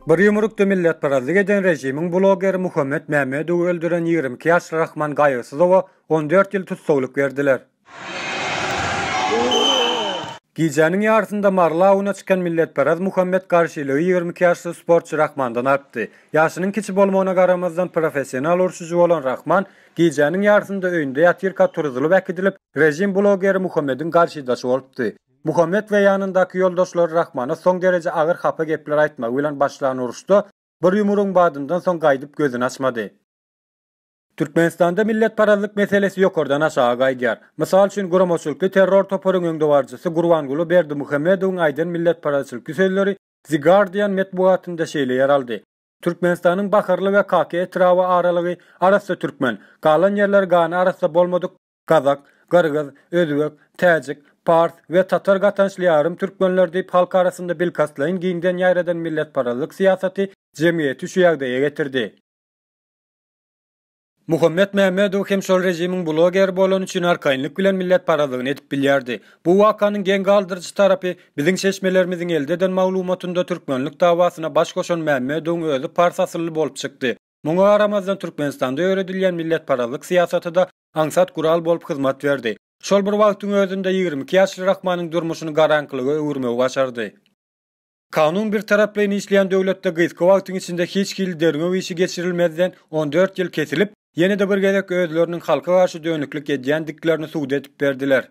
Bir ýumrukda milletparazlyk eden režimiň blogeri Muhammet Mämmedowy öldüren ýigrimi iki ýaşly Rahman Gaýygsyzowa on dört ýyl tussaglyk berdiler. Gijäniň ýarysynda Mary awuna çykan milletparaz Muhammet garşylygy ýigrimi iki ýaşly sportçy Rahmandan artdy. Ýaşynyň kiçi bolmagyna garamazdan professional urşujy bolan Rahman gijäniň ýarysynda öýünde ýatyrka turuzylyp äkidilip, režim blogeri Muhammediň garşydaşy bolupdy. Muhammet we ýanyndaky ýoldaşlary Rahmana soň dereje agyr hapa gepler aýtmagy bilen başlan uruşda bir ýumrugyň badyndan soň gaýdyp gözüni açmady. Türkmenistanda milletparazlyk meselesi ýokardan aşaga gaýdýar. Mysal üçin guramaçylykly terror toparyň öňdebaryjysy Gurbanguly Berdimuhamedowyň aýdan milletparazçylykly sözleri The Guardian metbugatynda şeýle ýer aldy, Türkmenistanyň Baharly we Kaka etraby aralygy arassa türkmen, galan ýerleri gany arassa bolmadyk, Gazak, gyrgyz, özbek, täjik, pars we tatar gatançly ýarym türkmenler diýip halk arasynda bilkastlaýyn giňden ýaýradan milletparazlyk syýasaty jemgyýeti şu ýagdaýa getirdi. Muhammet Mämmedow hem şol režimiň blogeri bolany üçin arkaýynlyk bilen milletparazlygyny edip bilýärdi. Bu wakanyň geň galdyryjy tarapy, biziň çeşmelerimiziň elde eden maglumatynda türkmenlik dawasyna baş goşan Mämmedowyň özi pars asylly bolup çykdy. Muňa garamazdan Türkmenistanda ýöredilýän milletparazlyk syýasaty-da aňsat gural bolup hyzmat berdi. Şol bir wagtyň özünde ýigrimi iki ýaşly Rahmanyň durmuşyny garaňkylyga öwürmegi başardy. Kanun birtaraplaýyn işleýän döwletde gysga wagtyň içinde hiç hili derňew işi geçirilmezden on dört ýyl kesilip, ýene-de bir gezek özleriniň halka garşy dönüklik edýändiklerini subut edip berdiler.